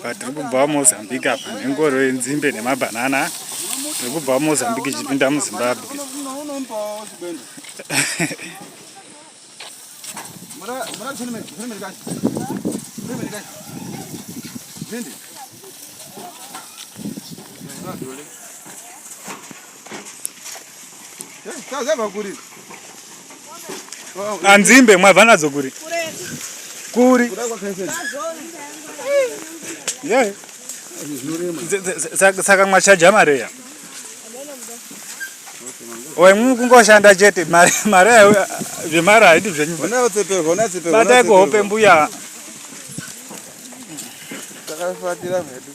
apa tiri kubva mozambique apa nengoro yenzimbe nemabhanana tiri kubva mozambique ichipinda muzimbabwe anzimbe ah, mwabva nadzo kuri kuri saka mwachaja mareya wemwi kungoshanda chete mari zvemari haidi zvenyubatai kuhope mbuya takafatira mhedu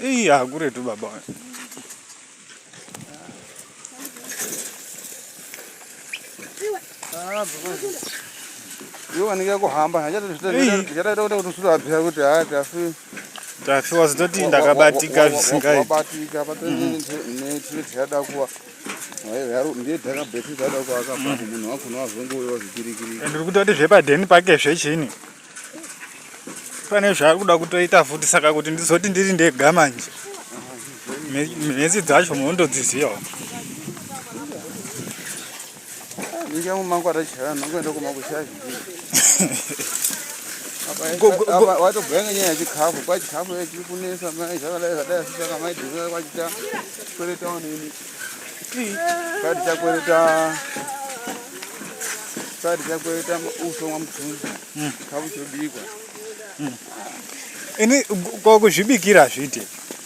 Ii hakuretu baba wani. Yo wanike kuhamba hachatoita kuti kusuru abvira kuti haa tafi tafi was not ndakabatika zvisingaiti wabatika patonetiyada kuwa ndiye takabheti tada kuaka mm. munhu wakona wazonge uyo wazvikirikiri ndiri kutoti zvepadheni pake zvechini pane zvaari kuda kutoita futi saka kuti ndizoti ndiri ndega manje mhezi dzacho munondodzizivawo Ninja mu mangu atachara nongo ndo kuma kushavi. Apa wato bhenga nyaya chikafu kwa chikafu yechi kunesa mai zvakadai zvadai saka mai dhinga kwa chita kwere town ini. Kadi chakwere ta Kadi chakwere ta uso wa mtunzi. Hmm. Kabu chobikwa. Hmm. Ini kwa kuzvibikira zvite.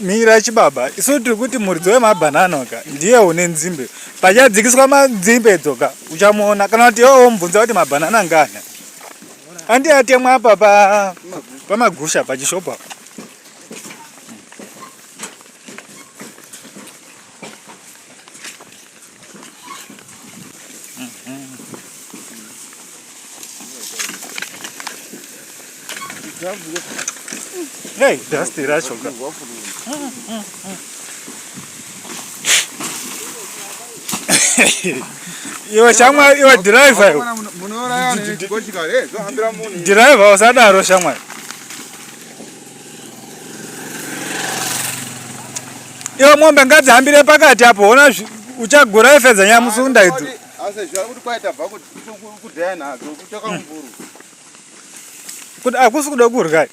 Mira chibaba, isu tiri kuti muridzi wemabhanana ka ndiye une nzimbe. Pachadzikiswa manzimbe idzo ka uchamuona kana kuti iwewe womubvunza kuti mabhanana ngani. Andi atemwa apa pa pamagusha pachishopu apa. Hey, that's the rational. iwe shamwari iwe dhiraivha iwe dhiraivha usadaro shamwari Iyo mombe ngadzihambire pakati apo hona uchagura efedza nyamusunda idzo. Kuti akusi kuda kurya.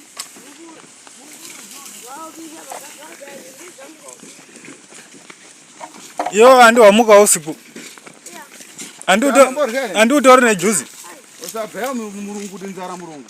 Yo andi wamuka usiku. Andi utori nejuzi. Usabhaya murungu kuti nzara murungu.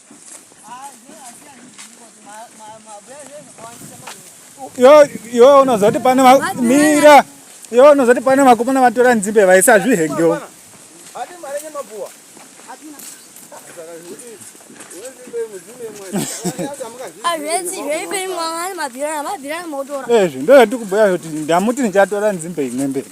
yo unozoti pane mira yo unozoti pane vakomana vatora nzimbe vaisa zvihengewo ezvi ndozvatikubhuya kuti ndamuti ndichatora nzimbe imwe mberi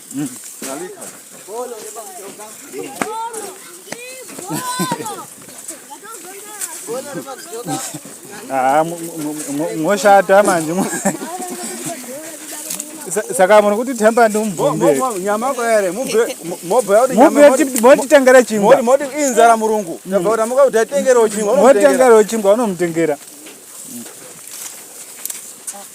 Ah, moshata manje saka muri kuti temba ndi mubvemotitengera chingwainzara murungu motitengerawo chingwa unomutengera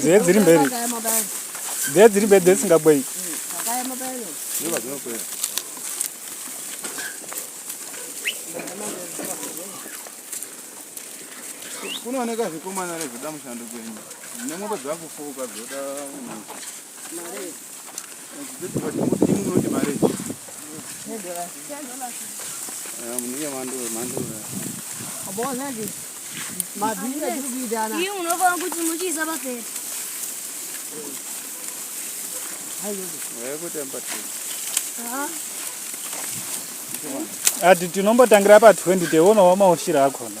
dziye dziri mberi dziye dziri mberi dzesingabwei kunooneka zvikomana rezvoda mushando kwenyu nemwombo dzakufuka dzoda Iyi unofanira kuti muchiisa papera. ati tinombotangira pa 20 teonawo maushira akona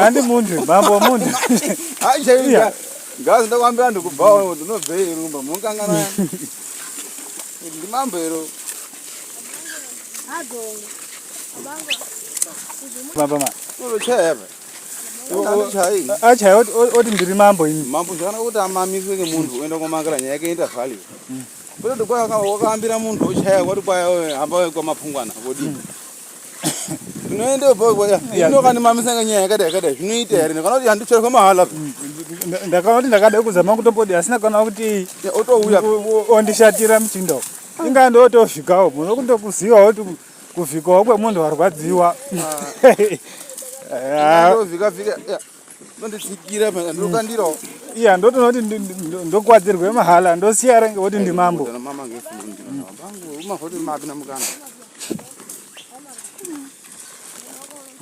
handi mundwi mambo mundwi aichaiya ngazi ndokwambira ndikubhawo kuti unobvei rumba munokangana ndi mambo ero achaya oti ndiri mambo ini mambo zvakanaka kuti amamiswe nemunhu oenda kwamakira nyaya yake ita vali mm. kutoti kwakaambira munhu ochaya kwati kwaya hamba kwamapungwana vodii mm. zvinoenda bhoanomamisa nga nyaya yakadai yakadai zvinoita here kana kuti handicherwa mahala ndakaona kuti ndakada kuzama kutombodi asina kana kuti otouya ondishatira muchindo ingaa ndotosvikawo muno kundokuziva kuti kuvhikawo kwemunhu warwadziwa ah. ah. ndonditsikira mhaka ndokandirawo iya ndotoona kuti ndokwadzirwe mahala ndosiya renge woti ndimambo mama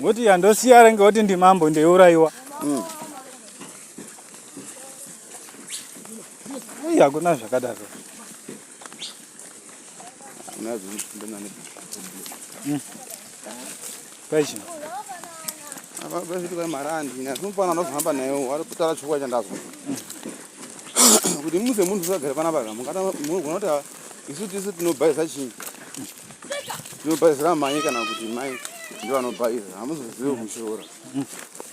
ngoti iya ndosiya renge woti ndimambo ndeiurayiwa mm. iya kuna zvakadaro Peixe. Abazilika marandi na kumpana no hamba nayo wari kutara chukwa chandazo. Kuti muze munhu usagare pana baba mungata munogona kuti isu tisu tinobhaiza chinyi. Tinobhaizira mai kana kuti mai ndiwo anobhaiza hamuzozivi kushora.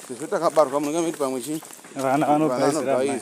Tisu takabarwa munenge miti pamwe chinyi. Vana vanobhaizira mai.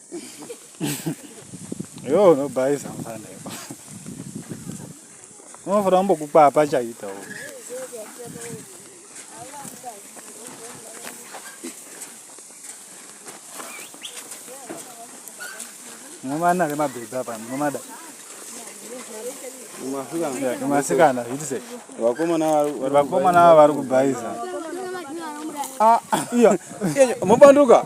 Yo unobhaisa mfana iwe. Unofanira kumbokupa pachaita uko. Mwana ari mabhebha apa mwana. Kumasikana zvitise. Vakomana vari vakomana vari kubhaisa. Ah, iya. Mobanduka.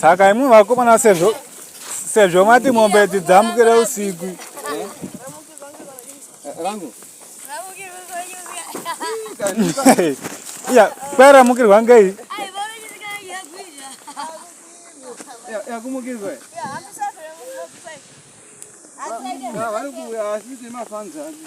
saka imwe vakomana sezvo sezvo mati mombe idzi dzamukire usiku iya kwaramukirwa ngei yakumukirwa vari kuuya asi kuti mafanzi ake